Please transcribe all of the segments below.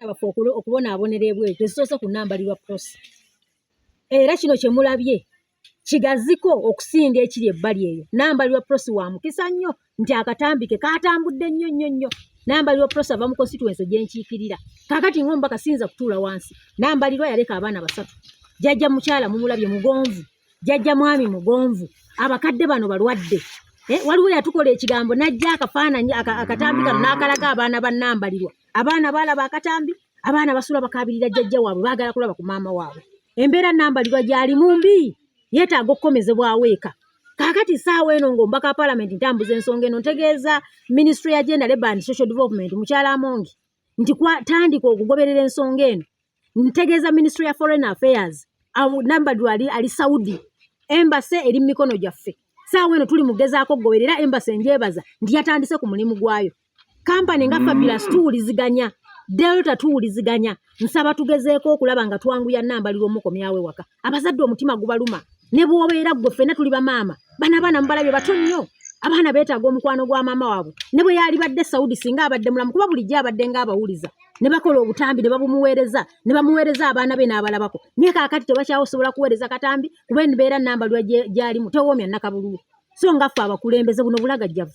baffe okubonaabonera ebweru tezisoose kunambalirwa prosi era kino kye mulabye kigaziko okusinga ekiri ebbali eyo nambalirwa prosi wa mukisa nnyo nti akatambi ke katambudde nnyo nnyo nnyo nambalirwa prosi ava mu constituensi gyenkiikirira kakati ngaomubaka siyinza kutuula wansi nambalirwa yaleka abaana basatu jajja mukyala mumulabye mugonvu jajja mwami mugonvu abakadde bano balwadde eh, waliwo yatukola ekigambo najja akafaananyi akatambi kano n'akalaga abaana ba nambalirwa abaana baalaba akatambi abaana basula bakabirira jjajja waabwe baagala kulaba ku maama waabwe embeera nambalirwa gyali mu mbi yeetaaga okukomezebwawo eka kaakati saawa eno ngaombaka wa palamenti ntambuza ensonga eno ntegeeza minisitule ya genda leba and social development mukyala amongi nti kwatandika okugoberera ensonga eno ntegeeza ministry ya foreign affairs nambadu ali ali saudi embase eri mu mikono gyaffe saawa eno tuli mugezaako goberera embase njebaza nti yatandise ku mulimu gwayo kampani nga fabulous tuwuliziganya delta tuwuliziganya nsaba tugezeeko okulaba nga twanguya nambalirwa omukomyawe waka abazadde omutima gubaluma ne bwobeera gwe ffena tuli bamaama bana abaana mubalabye bato nnyo abaana beetaaga omukwano gwa maama waabwe ne bwe yaalibadde saudi singa abadde mulamu kuba bulijjo abadde ng'abawuliza ne bakola obutambi ne babumuweereza ne bamuweereza abaana be n'abalabako naye kaakati tebakyawosobola kuweereza katambi kuba embeera namba lwa gyalimu tewoomya nakabululu so nga ffe abakulembeze buno bulagajjavu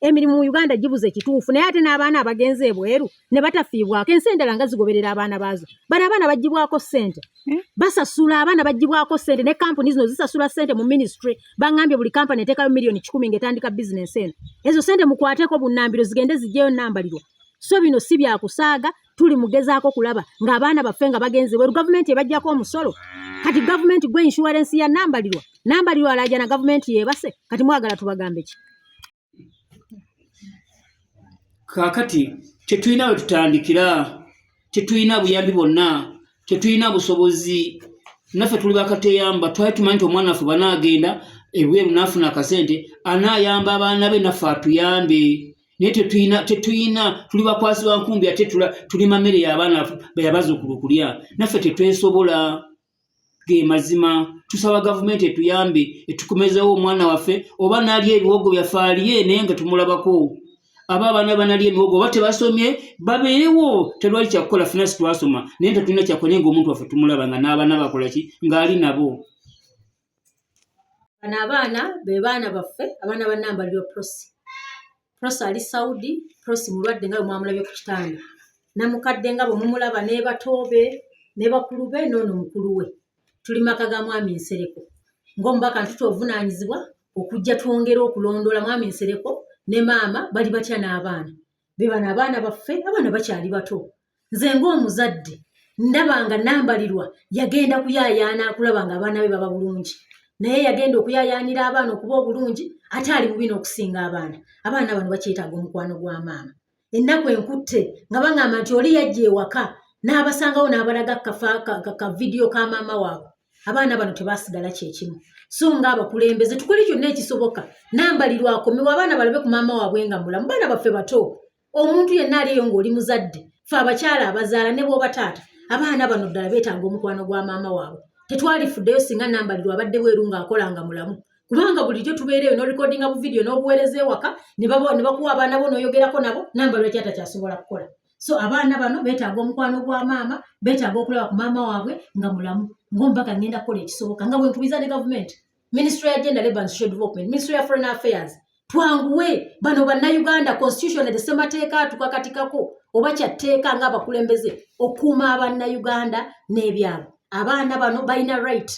emirimu mu uganda gibuze kituufu naye ate n'abaana abagenze ebweru ne batafiibwako ensi endala nga zigoberera abaana baazo bano abaana bagibwako ssente hmm? basasula abaana bagibwako ssente ne kampuni zino zisasula ssente mu minisitry baŋambye buli kampani eteekayo miliyoni kikumi ng'etandika bizinensi eno ezo ssente mukwateko bunnambiro zigende zijjeyo nnambalirwa so bino si byakusaaga tuli mugezaako kulaba ng'abaana baffe nga bagenze bweru gavumenti ebajjako omusolo kati gavumenti gwe inshuwarensi ya nambalirwa nambalirwa alaajana gavumenti yeebase kati mwagala tubagambe ki kaakati tetulina we tutandikira tetulina buyambi bwonna tetulina busobozi naffe tuli bakateyamba twali tumanyi nti omwana waffe banaagenda ebweru naafuna akasente anaayamba abaana be naffe atuyambe naye tetuyina tetuyina tuli bakwasi ba nkumbi ate tuli mamere y'abaana beyabazuukulu okulya naffe tetwesobola ge mazima tusaba gavumenti etuyambe etukomezewo omwana waffe oba nali ebiwogo byaffe aliye naye nga tumulabako aba abaana banali emiwogo oba tebasomye babeerewo telwali kyakukola fina sitwasoma naye tetulina kyakola naye ngaomuntu waffe tumulaba nga n'abaana bakolaki ng'ali nabo bano abaana be baana baffe abaana ba namba lyo prosi prosi ali saudi prosi mulwadde nga bwemwamulabye ku kitanda namukadde nga bwemumulaba nebatoobe ne bakulu be noono mukulu we tuli maka ga mwami nsereko ngaomubaka ntuta obuvunaanyizibwa okujja twongere okulondoola mwami nsereko ne maama bali batya n'abaana be bano abaana baffe abaana bakyali bato nze ng'omuzadde ndaba nga nambalirwa yagenda kuyayaana akulaba nga abaana be baba bulungi naye yagenda okuyayaanira abaana okuba obulungi ate ali bubi n'okusinga abaana abaana bano bakyetaaga omukwano gwa maama ennaku enkutte nga baŋamba nti oli yajja ewaka n'abasangawo n'abalaga ka vidiyo ka maama waabwe abaana bano tebasigala kyekimu so nga abakulembeze tukole kyonna ekisoboka nambalirwa akomewo abaana balabe ku maama waabwe nga mulamu baana baffe bato omuntu yenna aliyo ng'oli muzadde fe abakyala abazaala ne bwoba taata abaana bano ddala beetaaga omukwano gwa maama waabwe tetwalifuddeyo singa nambalirwa abadde bweru ng'akola nga mulamu kubanga bulijjo tubeera eyo norikodinga bu vidiyo n'obuweereza ewaka ne bakuwa abaana bo n'oyogerako nabo nambalirwa kyata kyasobola kukola so abaana bano beetaaga omukwano gwa maama beetaaga okulaba ku maama waabwe nga mulamu ng'omubaka ngenda kukola ekisoboka nga bwenkubiza ne gavumenti ministry ya gender labor and social development ministry ya foreign affairs twanguwe bano bannayuganda constitution the semateeka atukakatikako oba kyatteeka nga abakulembeze okuuma abannayuganda n'ebyalo abaana bano balina right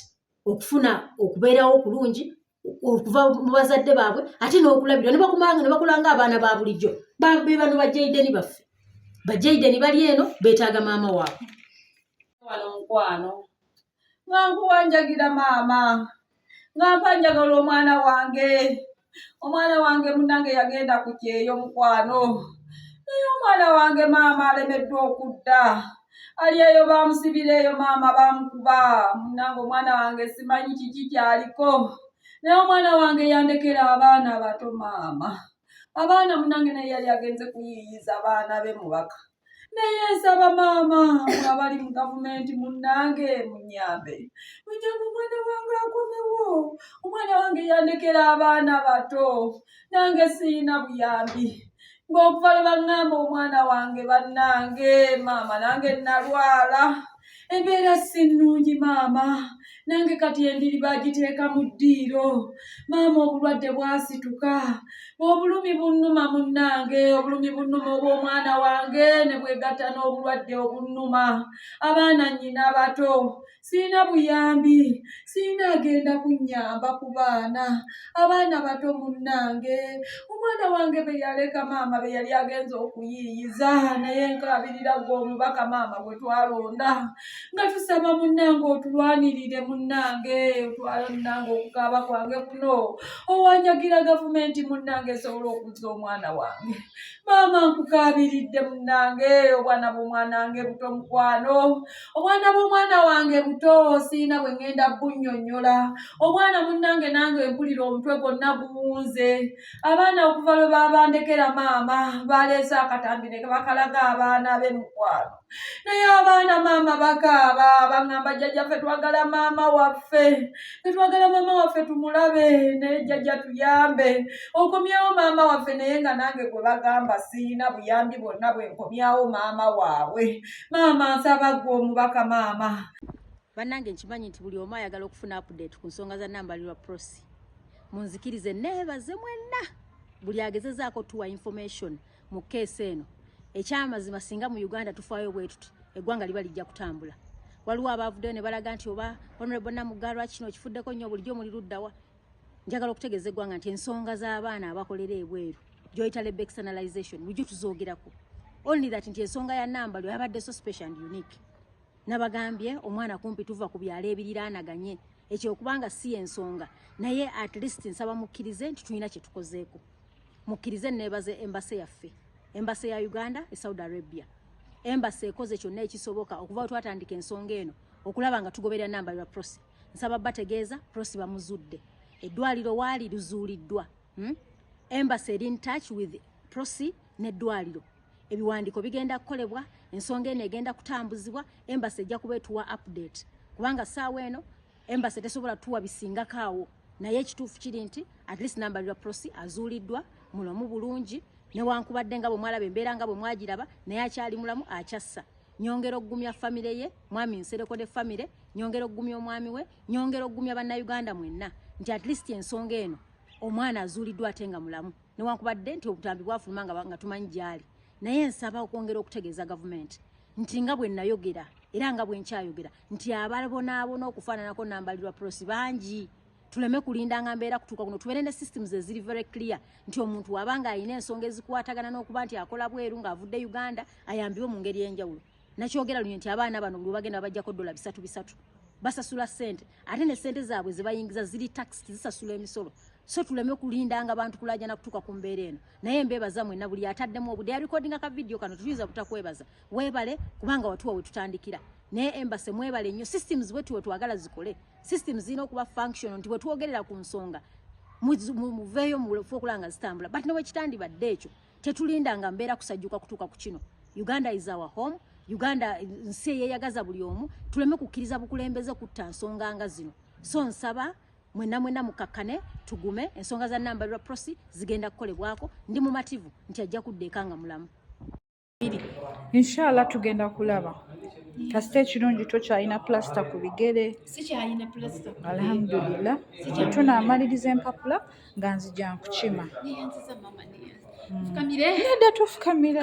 okufuna okubeerawo okulungi okuva mu bazadde baabwe ate n'okulabirwa nebakumanga nebakolanga abaana ba bulijjo be bano bajaideni baffe bajaideni bali eno beetaaga maama waabwe wano mukwano nga nkuwanjagira maama nga mpanjagala omwana wange omwana wange munange yagenda ku kyeyo mukwano naye omwana wange maama alemeddwa okudda ali eyo bamusibira eyo maama bamukuba munange omwana wange simanyi kiki kyaliko naye omwana wange yandekera abaana abato maama abaana munange naye yali agenze kuyiiyiza abaana be mubaka naye nsaba maama abali mu gavumenti munnange munyambe munyambe omwana wange akomewo omwana wange yandekera abaana bato nange siyina buyambi ng'okuva lwe baŋŋamba omwana wange bannange maama nange nnalwala embeera si nnungi maama nange kati endiri bagiteeka mu ddiiro maama obulwadde bwasituka obulumi bunnuma munnange obulumi bunnuma obw'omwana wange ne bwegatta n'obulwadde obunnuma abaana nnyina abato sirina buyambi sirina agenda kunnyamba ku baana abaana bato munnange omwana wange be yaleka maama be yali agenza okuyiiyiza naye nkaabirira gwe omubaka maama gwe twalonda nga tusaba munnange otulwanirire munnange otwala munnange okukaaba kwange kuno owanjagira gavumenti munnange esobola okuzza omwana wange maama nkukaabiridde munnange obwana bwomwanange buto mukwano obwana bw'omwana wange buto siina bwe ŋŋenda bunnyonnyola obwana munnange nange mpulira omutwe gwonna guwunze abaana okuva lwe baabandekera maama baaleese akatambi ne bakalaga abaana be mukwano naye abaana maama bakaaba baŋŋamba jjajja ffe twagala maama waffe fe twagala maama waffe tumulabe naye jjajja tuyambe okomyewo maama waffe naye nga nange gwe bagamba siina buyambi bwonna bwe nkomyawo maama waabwe maama nsaba gwe omubaka maama bannange nkimanyi nti buli omu ayagala okufuna update ku nsonga za nambalirwa prosi munzikirize neebaze mwenna buli agezezaako tuwa information mu keesi eno ekyamazima singa mu uganda tufaayo bwetuti eggwanga liba lijja kutambula waliwo abaavuddeyo ne balaga nti oba honorable namugalwa kino kifuddeko nnyo bulijjo muli luddawa njagala okutegeeza eggwanga nti ensonga z'abaana abakolera ebweru joyita lebe externalization mujjo tuzoogerako only that nti ensonga ya namba lwe yabadde so special and unique nabagambye omwana kumpi tuva ku byalo ebiriraanaganye ekyo okubanga si ensonga naye at least nsaba mukkirize nti tulina kye tukozeeko mukkirize neebaze embase yaffe embase ya uganda e saudi arabia embase ekoze kyonna ekisoboka okuva twatandika ensonga eno okulaba nga tugoberera namba lwa process nsaba bategeeza prosi bamuzudde eddwaliro waali luzuuliddwa hmm? embassy eri in touch with prosi n'eddwaliro ebiwandiiko bigenda kukolebwa ensonga eno egenda kutambuzibwa embassy ejja kuba etuwa update kubanga saawa eno embassy tesobola tuwa bisingako awo naye ekituufu kiri nti at least number ya prosi azuuliddwa mulamu bulungi newankubadde nga bwe mwalaba embeera nga bwe mwagiraba naye akyali mulamu akyassa nyongera okugumya famire ye mwami nsereko de famire nyongera okugumya omwami we nyongera okugumya bannayuganda mwenna nti at least ensonga eno omwana azuuliddwa ate nga mulamu newankubadde nti obutambi bwafuluma nga tumanyi gyali naye nsaba okwongera okutegeeza gavumenti nti nga bwe nayogera era nga bwe nkyayogera nti abalabonaabona okufaananako nambalirwa prosi bangi tuleme kulinda nga mbeera kutuuka kuno tubeere ne systems eziri very clear nti omuntu waba nga alina ensonga ezikwatagana n'okuba nti akola bweru ng'avudde uganda ayambibwe mu ngeri enjawulo nakyogera lunye nti abaana bano buli bagenda babajjako dola bisatu bisatu basasula sente ate ne sente zaabwe zebayingiza ziri tax zisasula emisolo so tuleme kulinda nga bantu kulajana kutuuka ku mbeera eno naye mbeebaza mwena buli ataddemu obude yarekodinga ka vidiyo kano tuyinza butakwebaza weebale kubanga watuwa wetutandikira naye embase mwebale nnyo systems wetuwe twagala zikole system zirina okuba functional nti bwetwogerera ku nsonga muveeyo mufu okulaba nga zitambula but newekitandibadde ekyo tetulinda nga mbeera kusajjuka kutuuka ku kino uganda is our home uganda nsi eyeyagaza buli omu tuleme kukkiriza bukulembeze kutta nsonga nga zino so nsaba mwena mwena mukakkane tugume ensonga za nambalirwa prosi zigenda kukolebwako ndi mumativu nti ajja kudda eka nga mulamu inshallah tugenda kulaba kasita ekirungi tokyalina pulasita ku bigere alhamdulillah tunamaliriza empapula nga nzija nkukima nedda tufukamira